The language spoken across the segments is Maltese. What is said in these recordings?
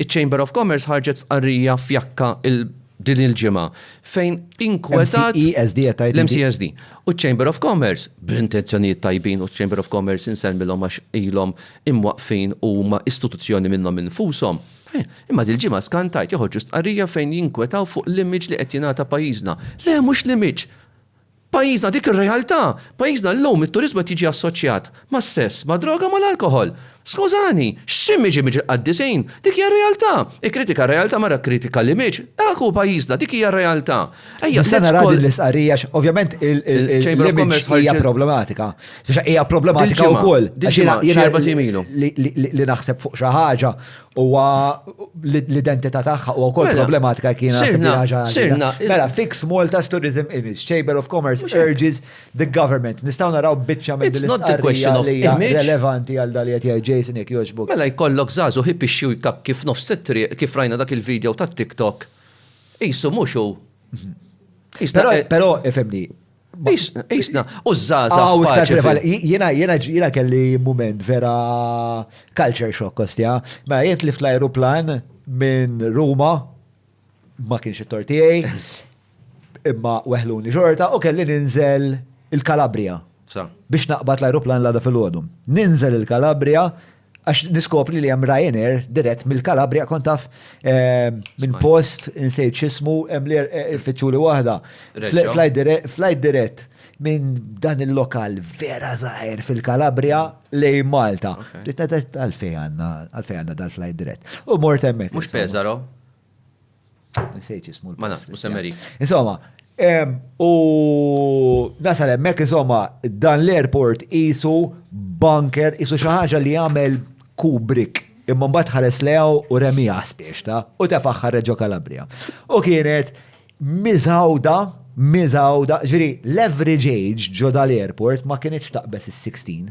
Iċ-Chamber of Commerce ħarġet stqarrija fjakka din il-ġimgħa fejn inkwetat. MCESD qed tgħid. L-MCESD. U ċ-Chamber of Commerce, bl-intenzjonijiet tajbin, u ċ-Chamber of Commerce insellmilhom għax ilhom imwaqqfin u huma istituzzjoni minnhom infushom. Imma dil-ġimgħa skan tard joħorġu stqarrija fejn jinkwetaw fuq l-image li qed jingħata pajjiżna. Le mhux l-image! Pajjiżna dik ir-realtà. Pajjiżna llum it-turiżmu qed jiġi assoċjat mas-sess, mad-droga u mal-alkoħol. Skużani, x'sim iġib miġ il-qaddisin? Dik hija r-realtà. Ikkritika r-realtà mara kkritika l-image. Dak hu pajjiżna, dik hija r-realtà. Ejja, let's call. Nista' nara din l-istqarrija għax ovvjament l-image hija problematika. Hija problematika wkoll. Jiena li naħseb fuq xi ħaġa huwa l-identità tagħha u wkoll mela, problematika kien sirna Mela fix Malta's tourism image, Chamber of Commerce urges the government. Nistgħu naraw biċċa minn din l-istqarrija li hija relevanti għal dal qed Jason jekk jogħġbok. Mela jkollok żagħżu ħib ixxi jkak kif nofs it-triq kif rajna dak il-video tat-TikTok. Isu mhux hu. Mhm. Però ifhimni, Isna, u z-zaza. Jena, jena, jena kelli moment vera culture shock kostja. Ma jent li fl-aeroplan minn Ruma, ma kienx it-tortijaj, imma weħluni xorta, u kelli ninżel il-Kalabria. Biex naqbad l-aeroplan l-għada fil-ħodum. Ninżel il-Kalabria, Għax niskopri li hemm Ryanair dirett mill-Kalabria kont taf ehm, minn post insejt x'ismu hemm li eh, ifittxu li waħda. Flight dirett minn dan il-lokal vera zaħir fil-Kalabria lej Malta. Għalfej għanna, għalfej għanna dal-flight dirett. U mort emmek. Mux Pesaro? Nsejt jismu l-post. Ma nafx, mhux Semmeri. Insomma, u nasal hemmhekk insomma dan l-airport isu bunker isu xi ħaġa li jagħmel Kubrick imma mbagħad ħares lew u remija spiex ta' u tefaħ ħareġo Kalabria. U kienet miżawda miżawda, ġifieri l-average age ġo dal-airport ma kienx taqbes is-16.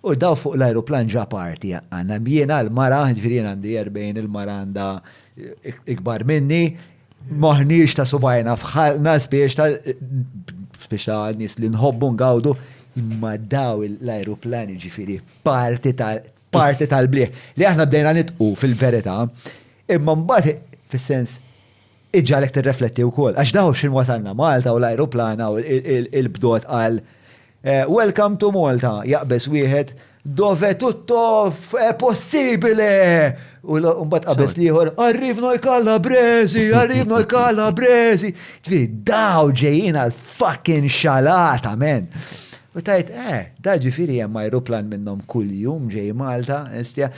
U daw fuq l-ajruplan ġa party għandna jiena l-mara, jiġifieri jien għandi 40 il-mara għandha ikbar minni, m'aħniex ta' subgħajna f'ħalqna spiex ta' spiex ta' nies li nħobbu ngawdu imma daw l-ajruplan jiġifieri party ta' party tal-bliħ li aħna bdejna nitqu fil-verità imma mbagħad fis-sens iġġagħlek tirrefletti wkoll. Għax daw x'in wasalna Malta u l-ajruplana u l-bdot għal eh, Welcome to Malta jaqbeż wieħed dove tutto è possibile. U mbagħad qabeż liħor, arrivno i calabresi, arrivno i calabresi. Ġifieri daw ġejjin għal fucking xalata, men. U tgħid, eh, da ġifieri hemm ajruplan minnhom kuljum ġej Malta, hestia.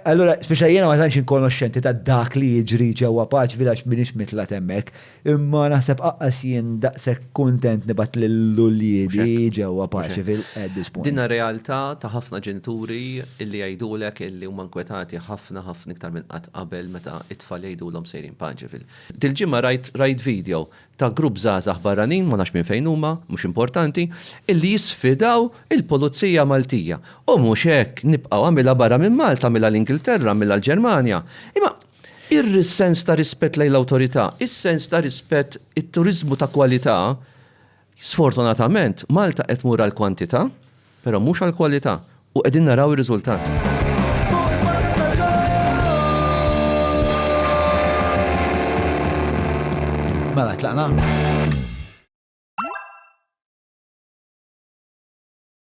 Allura, speċjali jiena ma tantx inkonoxxenti ta' dak li jiġri ġewwa paċvi għax m'iniex mitlat hemmhekk, imma naħseb aqqas jien daqshekk kuntent nibgħat lil uliedi ġewwa paċvi at this point. Dinha realtà ta' ħafna ġenituri illi jgħidulek illi huma nkwetati ħafna ħafna iktar minn qatt qabel meta t-tfal jgħidulhom sejrin paċvi. Dil-ġimgħa rajt rajt video ta' grupp żgħażagħ barranin, ma nafx minn fejn huma, mhux importanti, illi jisfidaw il-Pulizija Maltija. U mhux hekk, nibqgħu, għamilha barra minn Malta, għamilha l-Ingilterra, għamilha l-Ġermanja. Imma ir-sens ta' rispett lejn l-awtorità, is-sens ta' rispett, it-turiżmu ta' kwalità, sfortunatament, Malta qed tmur għall-kwantità, Però mhux għall-kwalità, u qegħdin naraw ir-riżultat. Mela tlaqna?